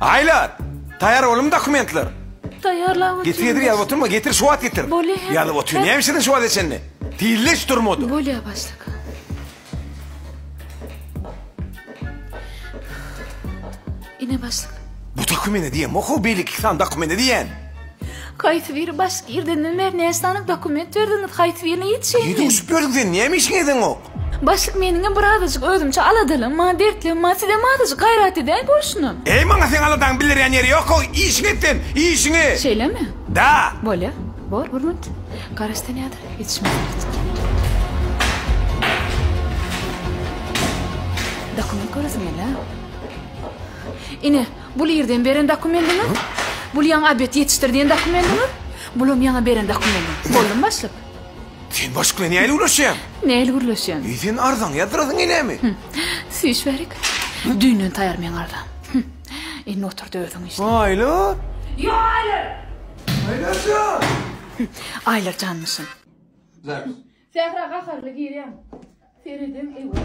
Aýlar! Taýýar boldumy dokumentler? Taýýarlap otyr. Getir getir ýazyp oturma getir şu wagt getir. Bolýa hemem. Ýazyp otyr näme işlediň şu wagta çenli? Tizle hiç durmady. Bolýa başlyk. Ine başlyk. Bu dokumente diýen oku beýleki iki sany dokumente diýen. Haýsy biri başlyk irden bäri näçe sany dokument berdiňiz haýsy birini ýetişeýin. Ýedi uçup ýörüň sen näme işiň edeniň ok? Başlyk meniňem bir azajyk özümçe aladalygym bar, dertligim bar, sizem azajyk gaýrat edäý bolşunam. Eý maňa seň aladaňy bildirýän ýeri ýok-ow, işiňi et sen, işiňi! Şeýlemi? Da! Bolýar, bor, Gurmat. Garaş sen ýadyr, ýetişmän git. Dokument göresiň gel-ä. Ine, bul irden beren dokumendiňiz, bul ýaňy Abet ýetişdir diýen dokumendiňiz, bulam ýaňy beren dokumendiňiz. Boldumy başlyk? Sen başk bilen nähili gürleşýäň? Nähili gürleşýäň? Eý, sen arzaňy ýazdyrasyň gelýämi? Süýş bärik. Düýnden taýar meň arzaň. Indi otur-da özüň işle. Aýlar! Ýok, Aýlar! Aýlar jan! Aýlar janmyşyn. Sähra gaharly girýän. Seredem ewe.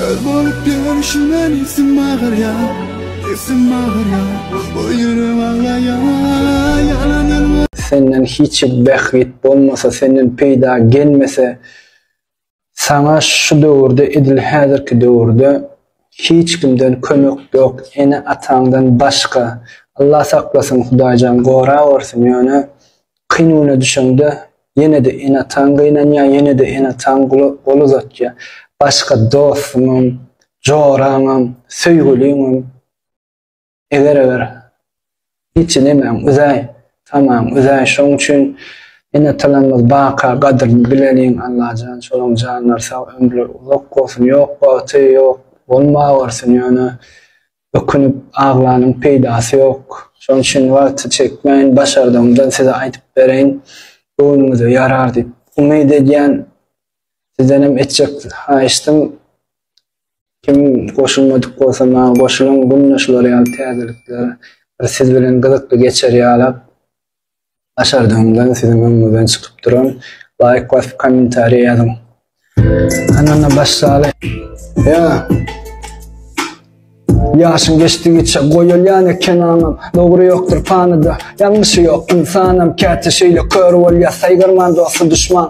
Öz bolup görüşüne isim mağır ya Isim mağır ya Bu yürüm ağlaya Yalanın Senden hiç behrit bolmasa Senden peyda gelmese Sana şu döwürde edil häzirki döwürde hiç kimden kömek yok ene ataňdan başka Allah saklasyn hudaýjan gora görsün ýöne Kynuna düşeňde, ýene-de ene-ataň gynanýar, ýene-de ene-ataň gol uzatýar. Başga dostuňam, joraňam, söýgüliňem, eger-eger hiç nemäň üzäý, tamaň üzäý. Şonuň üçin ene-atalarymyz baka gadyryny bileliň, Allajan şolaryň janlary sag, ömürleri uzak bolsun. Ýok wagty, ýok bolmagörsün, ýöne Ökünip aglanyň peýdasy ýok. Şoň üçin wagty çekmän başardygymdan size aýdyp bereýin. Göwnüňize ýarar diýip umyt edýän. Sizdenem etjek haýyşdym kim goşulmadyk bolsa maňa goşulyň günde şular ýaly täzelikler bir siz bilen gyzykly geçer ýalap. Başardygyňdan siziň öňüňizden çykyp duran laýk basyp kommentariýa ýazyň. Kanala baş sala. Ýa. Ýaşyň geçdigiçe goýulýan eken aňam Dogry ýokdur panyda ýalňyşy ýok ynsanam Käte şeýle kör bolýa saýgarman dosty duşman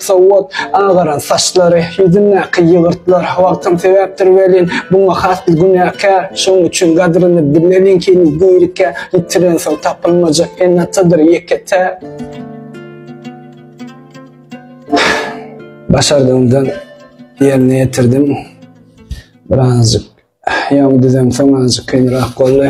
Sowat, agaran saçlary, ýüzündäki ýygyrtlar, wagtam sebäpdir welin, buňa has bir günäkär. Şonuň üçin gadryny bileliňkini dirikä ýitirensoň tapylmajak ene-atadyr ýeke tä. Başardygymdan ýerine ýetirdim. Birazajyk ýaňy düzemsoň azajyk kynrak boldy.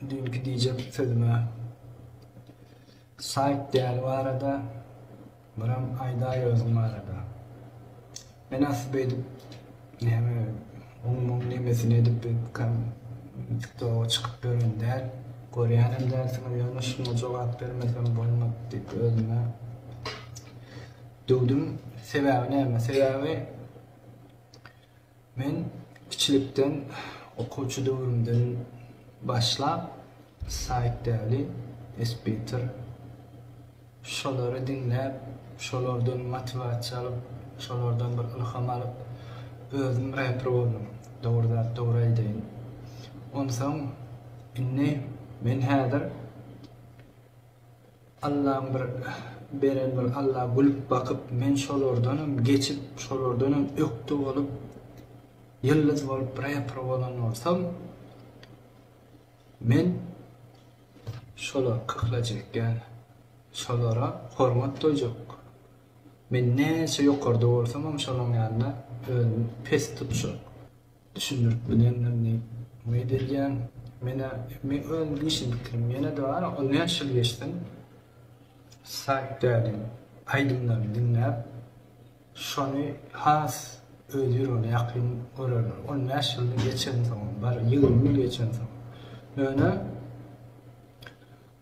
Düýnki diýjek sözüme saýt däl barada biram aýdaý özüň barada. Men asy beýdip näme oň muň nemesini edip beýdikam tiktoga çykyp ýören däl. Görýänem dälsiňiz ýöne şuňa jogap bermesem bolmaz diýip özüme döwdüm. Sebäbi näme? Sebäbi Men kiçilikden, okuwçy döwrümden başlap Said Däli, Esbitir şolary diňläp, şolardan motiwasiýa alyp, şolardan bir ylham alyp, özüm reper boldum, dogry zat dogry aýdaýyn. Onsoň indi men häzir. Allaň bir beren bir Alla gülüp bakyp men şolardanam geçip şolardanam ökde bolup ýyldyz bolup reper bolan bolsam men şolar kyklajak ýaly şolara hormat doýjak men näçe ýokarda bolsamam şolaň ýanyna özümi pes tutjak. düşündirip bilendim diýip umyt edýän. Menä meň özüm işim bitirim ýene-de bar on bäş ýyl geçsin Saýk dädiň aýdymlaryny diňläp şony has öz ýüregine ýakyn görerler on bäş ýyl geçensoňam bar ýigrimi ýyl geçensoňam ýöne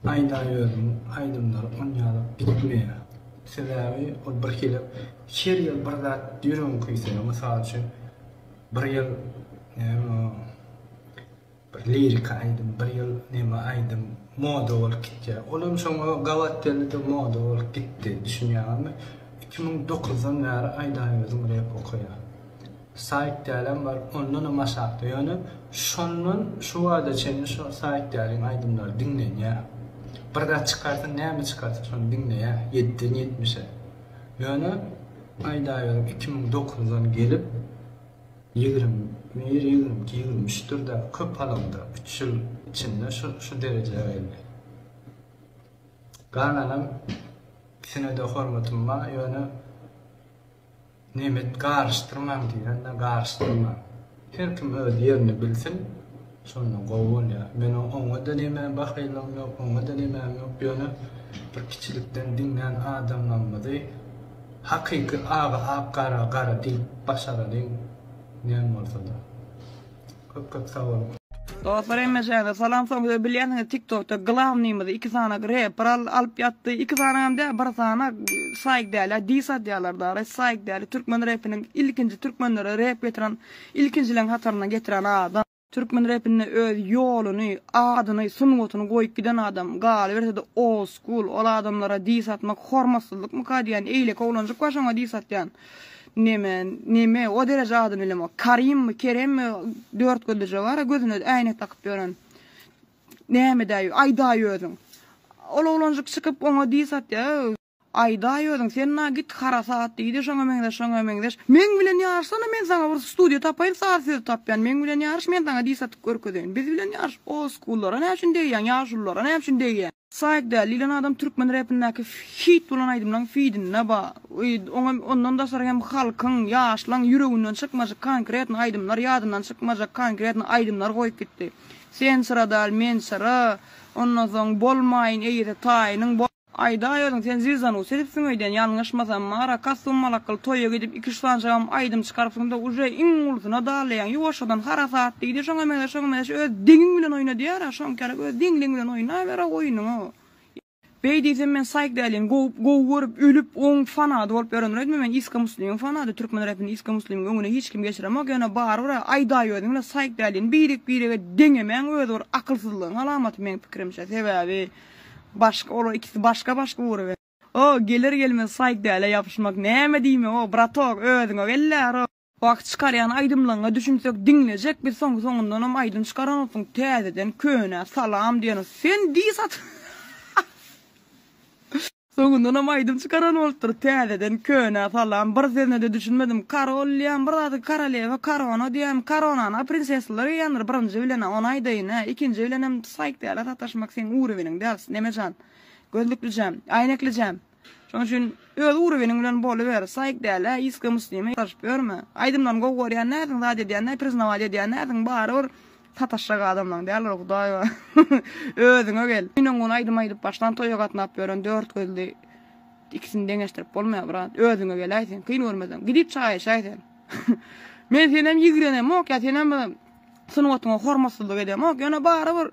Aýdaýözüň aýdymlary on ýaly bitmeýär. Sebäbi ol birhili her ýyl bir zat ýüregiňi küýseýär. Mysal üçin bir ýyl näme o bir liriki aýdym bir ýyl neme aýdym moda bolup gitýär. Ol hem şoňa gabat geldi-de moda bolup gitdi. Düşünýäňizmi? Iki müň dokuzdan bäri Aýdaýözüň rep okaýan. Saýt dälem bar ondanam aşakda ýöne şondan şu bada çenli şo saýt däliň aýdymlary diňlenýär bir zat çykarsa näme çykarsa şony diňleýär ýediden ýetmişe ýöne aýdaýberim iki müň dokuzdan gelip ýigrimi bir ýigrimi iki ýigrimi üçdir däl köp alamda üç ýyl içinde şu şu derejä geldi galanam ikisine de hormatym bar ýöne. Nemet garyşdyrmaň diýende garyşdyrmaň. Her kim öz ýerini bilsin, şonda gowy bolýar. Meniň oňa-da nemä bahylygym ýok, oňa-da nemäm ýok, ýöne bir kiçilikden diňlän adamlarymyzy hakyky aga ak, gara gara diýip başaralyň näme bolsa-da. Köp köp sag boluň. Dostlar hemmeşiňize salam soň siz bilýänsiňiz tiktokda glavnymyzy iki sanak reper alyp ýatdy iki sanagam däl bir sanak saýk dälä dis atýalar dara saýk dälä türkmen repiniň ilkinji türkmenlere rep getiren ilkinjileň hataryndan getiren adam türkmen repinde öz ýoluny adyny sungatyny goýup giden adam galybersede old school ol adamlara dis atmak hormatsyzlykmyka diýýän eýleki oglanjyk bar şoňa dis atýan. Neme, neme, o dereje ady bilemok. Karimmi, Keremmi, dört gözlüje bar-a, gözüne äýnek dakyp ýören. Nämedäý, aýdaý özüň. Ol oglanjyk çykyp, oňa dis atýar. Aýdaý özüň, sen-ä git, harasat, diýdi, şoňa meňzeş, şoňa meňzeş. Meň bilen ýaryşsana, men saňa bir studiýa tapaýyn, saz sözi tapýan, meň bilen ýaryş, men saňa dis atyp görkezeýin. Biz bilen ýaryş, oldskullara näçün degýäň, ýaşululara näçün degýäň? Saýk däl diýlen adam türkmen repindäki hit bolan aýdymlaň fidinde ba, y oňa ondan daşary hem halkyň, ýaşlaň ýüreginden çykmajak konkretny aýdymlar, ýadyndan çykmajak konkretny aýdymlar goýup gitdi. Sen çyra däl, men çyra, ondan soň Bolmaýyn eýesi taýynyň, bo. Aýdaý özüň sen zizanus edipsiň öýdýän ýalňyşmasam Mara Kassum Malakkal toýa gidip Iki üç sanjagam aýdym çykaryp soňda uje iň ulusyna dalaýaň ýuwaşjadan harasat diýdi şoňa meňzeş şoňa meňzeş öz deňiň bilen oýna diýara şoňkarak öz deňliň bilen oýnabera oýnuňy. Beý diýsem men saýkdälin gowy gowy görüp ölüp oň fanady bolup ýörendir öýtme men iska muslimiň fanady türkmen repini iska muslimiň öňüne hiç kim geçiremok ýöne barybira aýdaý özüň bilen saýkdälin birek birege deňemäň özi bir akylsyzlygyň alamaty meň pikirimçe sebäbi başga olar ikisi başga başga ugra. O geler gelmez saýk dälä ýapyşmak näme diýmek o bratok özüňe gelläro. Wah çykarýan aýdymlaňňa düşünsek diňlejek biz soň soňundanam aýdym çykaranoksyň täzeden könä salam diýen sen dis at Soňundanam aýdym çykaran bolupdyr täzeden könä salam bir sözünede düşünmedim karol diýýämi bir zady karalewa karona diýýämi karonany a prinsesalar geýýändir birinji bilenä ony aýdaýynä ikinji bilenem saýk dälä sataşmak seň ureweniň däl neme jan. Gözlüklijem, aýneklijem. Şoň üçin öz uroweniň bilen boluber, saýyk dälä, iska muslima garaşyp ýörme. Aýdymlaryny gowy görýän dälsiň, zat edýän däl, priznawaýt edýän dälsiň, barybir sataşjak adamlaň däldir hudaý bar. Özüňe gel. Gün öňňun aýdym aýdyp başlan toýa gatnap ýören dört gözli ikisini deňeşdirip bolmaýar brat. Özüňe geläý sen, kyn görmeseň. Gidip çaýyşaý sen. Men senem ýigrenemok ýa senem sungatyňa hormatsyzlyk edemok, ýöne barybir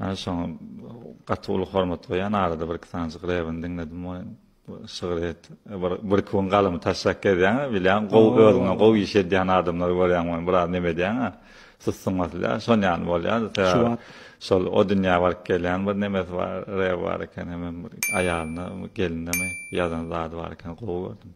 Ana şoňa gaty uly hormat goýýan arada bir iki sanjyk rebini diňledim we şygyr et. Bir bir iki gün galymy taşlap gezýän, bilýän gowy özüňe gowy iş edýän adamlary görýän we biraz neme edýän. Sussuň asla. Şon ýaly bolýar. Sebäbi şol o dünýä baryp gelýän bir nemesi bar, rebi bar eken hem aýalyna, gelinine ýazan zady bar eken gowy gördüm.